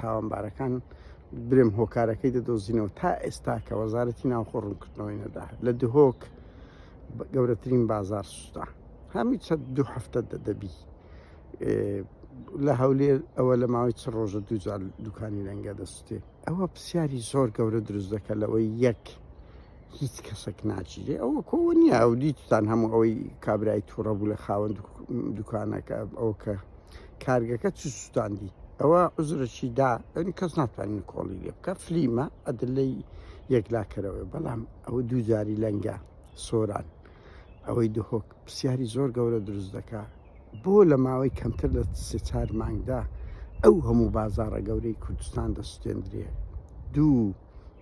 تاوانبارەکان برێم هۆکارەکەی دەدۆزینەوە تا ئێستا کە وەزارەتی ناوخۆ ڕوونکردنەوەی نەدا لە دهۆک گەورەترین بازار سوستا هەمی چەند دوو هەفتە دەدەبی لە هەولێر ئەوە لە ماوەی چ ڕۆژە دووجار دوکانی لەنگە دەستێ ئەوە پرسیاری زۆر گەورە دروست دەکە لەوەی یەک هیچ کەسێک ناچیرێ ئەوە کۆ نییە ئەو دیتان هەموو ئەوەی کابرای تووڕە بوو لە خاوەند دوکانەکە ئەو کە کارگەکە چ سوستاندی ئەوە عزرەشی دا ئەنی کەس ناتوانین کۆڵی لێ بکە فلیمە ئەدلەی یەکلاکەرەوە بەڵام ئەوە دووجاری لەنگە سۆران ئەوەی دهۆک پرسیاری زۆر گەورە دروست دەکا بۆ لە ماوەی کەمتر لە سێ چار مانگدا ئەو هەموو بازارە گەورەی کوردستان دەستێندرێ دوو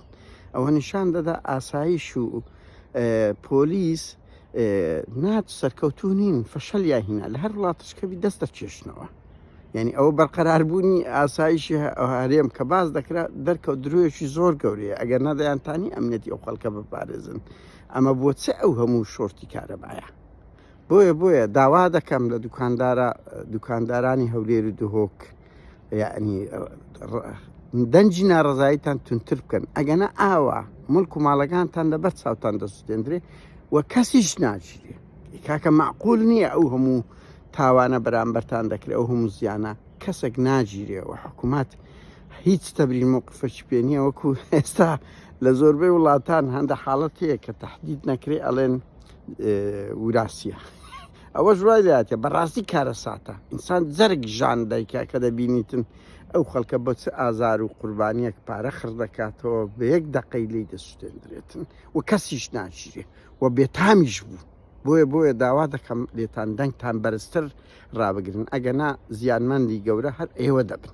دەکات ئەوە نیشان دەدا ئاسایش و پۆلیس نات سەرکەوتو نین فەشەل یا هینا لە هەر وڵاتشکەبی دەست دەکێشنەوە یعنی ئەوە بەرقەراربوونی ئاسایشی هەرێم کە باز دەکرا دەرکەوت درۆیەکی زۆر گەورەیە ئەگەر نەدەیانتانی ئەمنەتی ئەو خەڵکە بپارێزن ئەمە بۆ چ ئەو هەموو شۆرتی کارەبایە بۆیە بۆیە داوا دەکەم لە دوکاندارە دوکاندارانی هەولێر و دهۆک یعنی دەنج ناڕزاییتان تونتر بکەن ئەگەنە ئاوا ملک و ماڵەکانتان لەبەر چاوتان دەسوتێندرێ و کەسیش ناچرێ کاکە معقول نییە ئەو هەموو تاوانە بەرامبەرتان دەکرێت ئەو هەموو زیانە کەسێک ناگیرێ و حکوومەت هیچ تەبرین موقفش پێ نییە وەکو ئێستا لە زۆربەی وڵاتان هەندە حاڵەتەیە کە تهدید نەکرێ ئەڵێن وراسیە ئەوەش وای لاتێ بەڕاستی کارەساتە ئینسان جەرگ ژان دایکە کە دەبینیتن ئەو خەڵکە بە چ ئازار و قوربانیەک پارە خڕ دەکاتەوە بە یەک دەقەی لی دەسوێندرێتن و کەسیش ناچیرێ و بێتامیش بوو بۆیە بۆیە داوا دەکەم لێتان دەنگتان بەرزتر ڕابگرن ئەگەنا زیانمەندی گەورە هەر ئێوە دەبن